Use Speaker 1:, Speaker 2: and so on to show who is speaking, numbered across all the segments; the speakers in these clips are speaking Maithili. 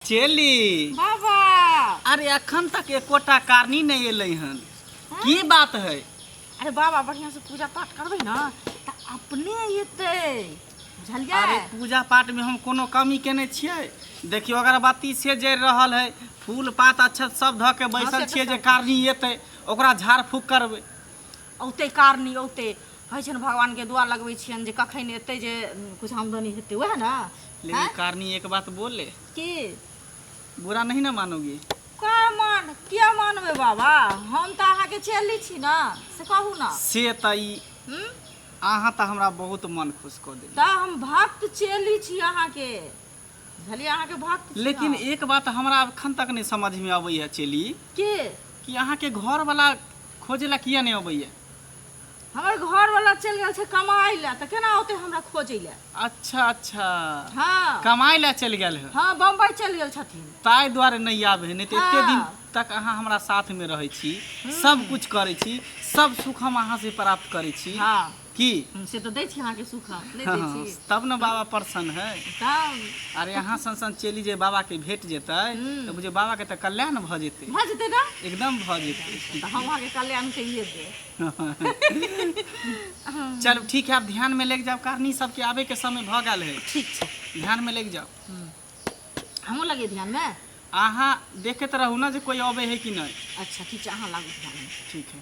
Speaker 1: चेली
Speaker 2: बाबा अरे
Speaker 1: अखन तक एकोटा कारणी नहीं एल हन की बात है अरे बाबा
Speaker 2: बढ़िया से पूजा पाठ करबे ना तो अपने अतै बुझलिया अरे पूजा पाठ
Speaker 1: में हम कोनो कमी केने छिए देखियो अगरबत्ती से जर रहा है फूल पात अच्छा सब धके बैसल हाँ, तो छिए जे कारणी एतै ओकरा झाड़ फूक करबे औते
Speaker 2: कारणी औते होइ छनि भगवानके दुआ लगबै छियनि जे कखन एतै जे किछु आमदनी हेतै वएह ने लेकिन कारणी
Speaker 1: एक बात बोले की
Speaker 2: बुरा
Speaker 1: नहीं ना मानोगी का मान
Speaker 2: किया मानबै बाबा हम तऽ अहाँके चेली छी ने से कहू ने से तऽ ई
Speaker 1: हूँ अहाँ तऽ हमरा बहुत मन खुश कऽ देली तऽ हम भक्त
Speaker 2: चेली छी अहाँके झली अहाँ के भक्त छी लेकिन हम। एक बात हमरा
Speaker 1: अखन तक नहीं समझ में अबैया चेली के कि
Speaker 2: अहाँ के
Speaker 1: घर वाला खोजे ला किया नहीं अबैया हमर
Speaker 2: घर वाला चल गेल छै कमाई ला त केना औते हमरा खोजे ला अच्छा अच्छा
Speaker 1: हां कमाई
Speaker 2: ला चल गेल
Speaker 1: है हां बम्बई चल गेल
Speaker 2: छथिन ताई द्वारे नहीं
Speaker 1: आबे है नहीं तो एते दिन हाँ। तक अहाँ हमरा
Speaker 2: साथ
Speaker 1: में रहे छी सब कुछ करे छी सब सुख हम अहाँ से प्राप्त करे छी हां की
Speaker 2: से तऽ
Speaker 1: दै छी अहाँके
Speaker 2: सुख हम नहि दै छी तब ने
Speaker 1: बाबा प्रसन्न है तब अरे
Speaker 2: अहाँ सन सन
Speaker 1: चेली जे बाबा के भेट जेतै तऽ बुझे बाबा के तऽ कल्याण भऽ जेतै भऽ जेतै ने एकदम
Speaker 2: भऽ जेतै
Speaker 1: तऽ हम अहाँके कल्याण
Speaker 2: कहिए देब
Speaker 1: चलू ठीक है आप ध्यान में लेके जाओ कारणी सबके आबे के समय भऽ गेल है ठीक छै ध्यान
Speaker 2: में लेके जाओ हमहूँ लगे ध्यान मे अहाँ
Speaker 1: देखैत रहू ने जे कोई अबे है कि नहि अच्छा ठीक छै अहाँ लागू
Speaker 2: ध्यान ठीक है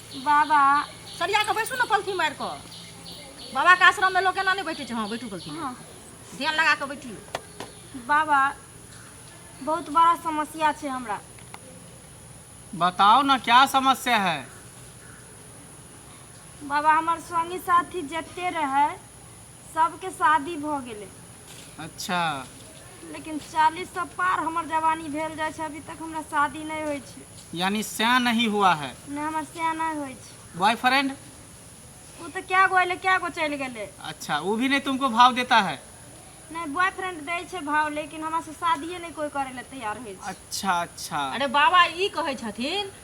Speaker 3: बाबा सरिया
Speaker 2: कऽ बैसू ने पलथी मारि कऽ बाबाके आश्रममे लोक एना नहि बैठे छै हँ बैठू पलथी हँ ध्यान
Speaker 3: लगा कऽ
Speaker 2: बैठियौ बाबा
Speaker 3: बहुत बड़ा समस्या छै हमरा
Speaker 1: बताओ ना क्या समस्या है
Speaker 3: बाबा हमर संगी साथी जते रहै सबके शादी भऽ गेलै
Speaker 1: अच्छा लेकिन
Speaker 3: चालीस सौ पार हमर जवानी भेल जाइ छै अभी तक हमरा शादी नहि होइ छै यानी सैं
Speaker 1: नहीं हुआ है ने हमर सैं नहि
Speaker 3: होइ छै बॉयफ्रेंड
Speaker 1: ओ
Speaker 3: तऽ कए गो एलै कए गो चलि गेलै अच्छा वो भी नहीं
Speaker 1: तुमको भाव देता है नहि बॉयफ्रेंड
Speaker 3: दै छै भाव लेकिन हमरा से शादिये नहि कोई करे लए तैयार होइ छै अच्छा अच्छा अरे
Speaker 1: बाबा ई
Speaker 2: कहै छथिन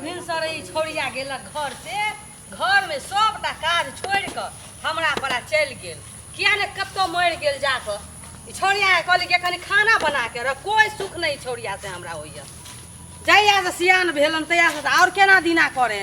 Speaker 2: भिनसरे ई छौड़िया गेलक घर से घर में सबटा काज छोड़ि कऽ हमरा पर आ चलि गेल किया ने कतौ मरि गेल जा कऽ ई छौड़िया के कहली कि कनि खाना बना के रख कोई सुख नहि ई छौड़िया से हमरा होइया जहिया से सियान भेलन तहिया से तऽ आओर केना दिना करे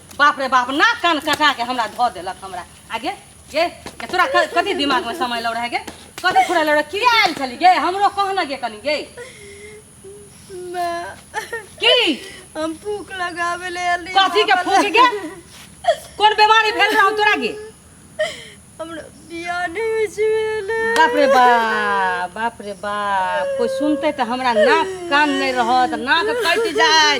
Speaker 2: बाप रे बाप ना कान कटा के हमरा धो देलक हमरा आगे गे गे तोरा क- कथी दिमाग में समय लौ रहे गे कथी फुरा लौ रहे की आयल छली गे हमरो कह न गे कनी गे माँ की हम
Speaker 3: फूक लगावे ले अली कथी के फूक गे
Speaker 2: कोन बीमारी भेल रहौ तोरा गे
Speaker 3: हमरा बियाह नहीं होइ छै भेल बाप रे बाप
Speaker 2: बाप रे बाप कोई सुनते तो हमरा नाक कान नहीं रहत नाक कटि जाए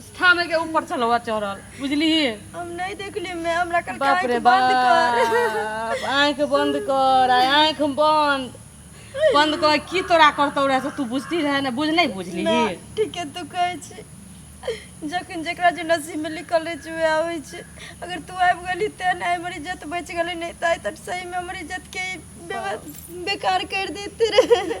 Speaker 2: स्थान के ऊपर चलवा चढ़ल बुझली हम नहीं देखली
Speaker 3: मैं हमरा कल बाप रे बंद कर
Speaker 2: आंख बंद कर आंख बंद बंद कर की तोरा करतो रहे तू बुझती रहे ना बुझ नहीं बुझली ठीक है तू
Speaker 3: कहे छी जखन जकरा जे नसीब में लिखल रहे छै वएह होइ छै अगर तू आबि गेली तेँ ने हमर इज्जत बचि गेलै नहि तऽ आइ तक सहीमे हमर इज्जतके बेकार करि देते रहे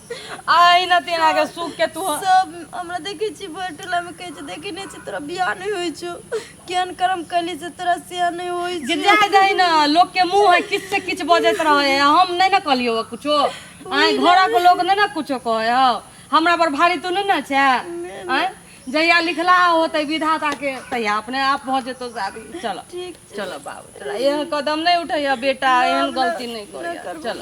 Speaker 2: आइ न तेना के सुख के तू सब हमरा देखै
Speaker 3: छी भर टोला में कहै छै देखै नै छी तोरा बियाह नै होइ छौ केहन कर्म कैली से तोरा सिया नै होइ जे छै जाय जाय न लोग
Speaker 2: के मुंह है किछ से किछ बजैत रहे है हम नै न कहलियो है कुछो आय घर के लोग नै न कुछो कहे है हमरा पर भारी तू नै न छै आय जहिया लिखला होते विधाता के तहिया अपने आप भ जेतो शादी चल ठीक चल बाबू
Speaker 3: चल
Speaker 2: एहन कदम नै उठैया बेटा एहन गलती नै ना करिया करबो। चल